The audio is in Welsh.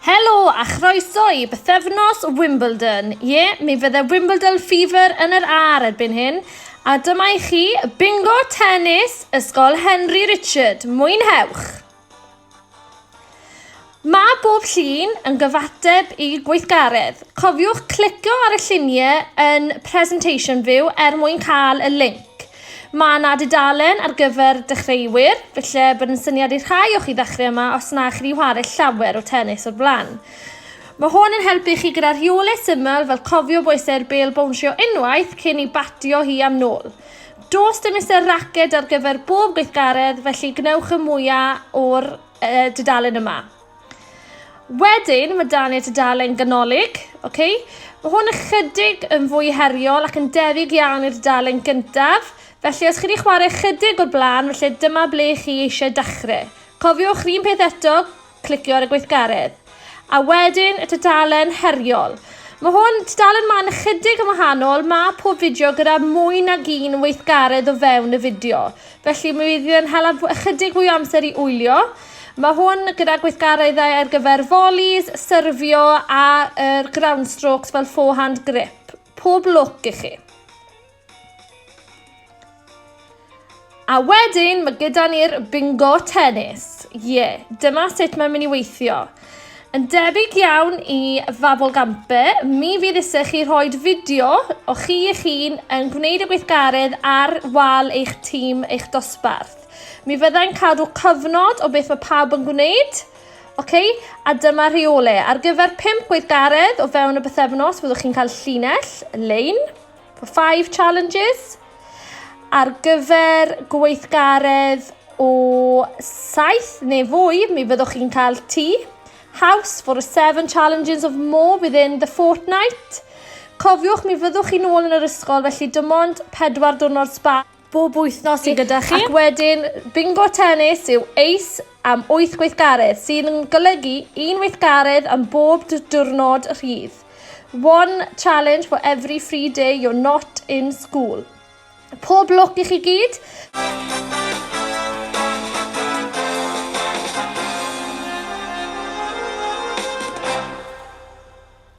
Helo a chroeso i bythefnos Wimbledon. Ie, yeah, mi fydde Wimbledon Fever yn yr ar erbyn hyn. A dyma i chi, bingo tennis, Ysgol Henry Richard. Mwynhewch! Mae bob llun yn gyfateb i gweithgaredd. Cofiwch clicio ar y lluniau yn Presentation View er mwyn cael y linc. Mae yna dudalen ar gyfer dechreuwyr, felly bod yn syniad i rhai o'ch i ddechrau yma os na chi wedi chwarae llawer o tennis o'r blaen. Mae hwn yn helpu chi gyda rheolau syml fel cofio bwysau'r bêl bownsio unwaith cyn i batio hi am nôl. Does dim Mister Racket ar gyfer bob gweithgaredd, felly gwnewch y mwyaf o'r uh, dudalen yma. Wedyn, mae dan ni'r dudalen ganolig, okay? Mae hwn ychydig yn fwy heriol ac yn debyg iawn i'r dudalen gyntaf, felly os chi wedi chwarae ychydig o'r blaen, felly dyma ble chi eisiau dechrau. Cofiwch, rhywun peth eto, clicio ar y gweithgaredd. A wedyn y tudalen heriol. Mae hwn, tudalen ma'n ychydig yn wahanol, mae pob fideo gyda mwy nag un weithgaredd o fewn y fideo. Felly mi fydd yn hela ychydig fwy o amser i wylio. Mae hwn gyda gweithgareddau ar gyfer volleys, syrfio a'r er ground strokes fel forehand grip. Pob lwc i chi. A wedyn mae gyda ni'r bingo tennis. Ie, yeah, dyma sut mae'n mynd i weithio. Yn debyg iawn i Fabel Gampe, mi fydd eisiau chi rhoi fideo o chi eich hun yn gwneud y gweithgaredd ar wal eich tîm eich dosbarth. Mi fyddai'n cadw cyfnod o beth mae pawb yn gwneud, okay? a dyma rheole. Ar gyfer 5 gweithgaredd o fewn y bythefnos, fyddwch chi'n cael llinell, lein, For five challenges ar gyfer gweithgaredd o saith neu fwy, mi fyddwch chi'n cael tŷ. House for a seven challenges of more within the fortnight. Cofiwch, mi fyddwch chi'n ôl yn yr ysgol, felly dim ond pedwar diwrnod sba. bob wythnos i gyda chi. Ac wedyn, bingo tennis yw eis am 8 gweithgaredd, sydd yn golygu un weithgaredd am bob diwrnod rhydd. One challenge for every free day you're not in school. Pob lwc i chi gyd!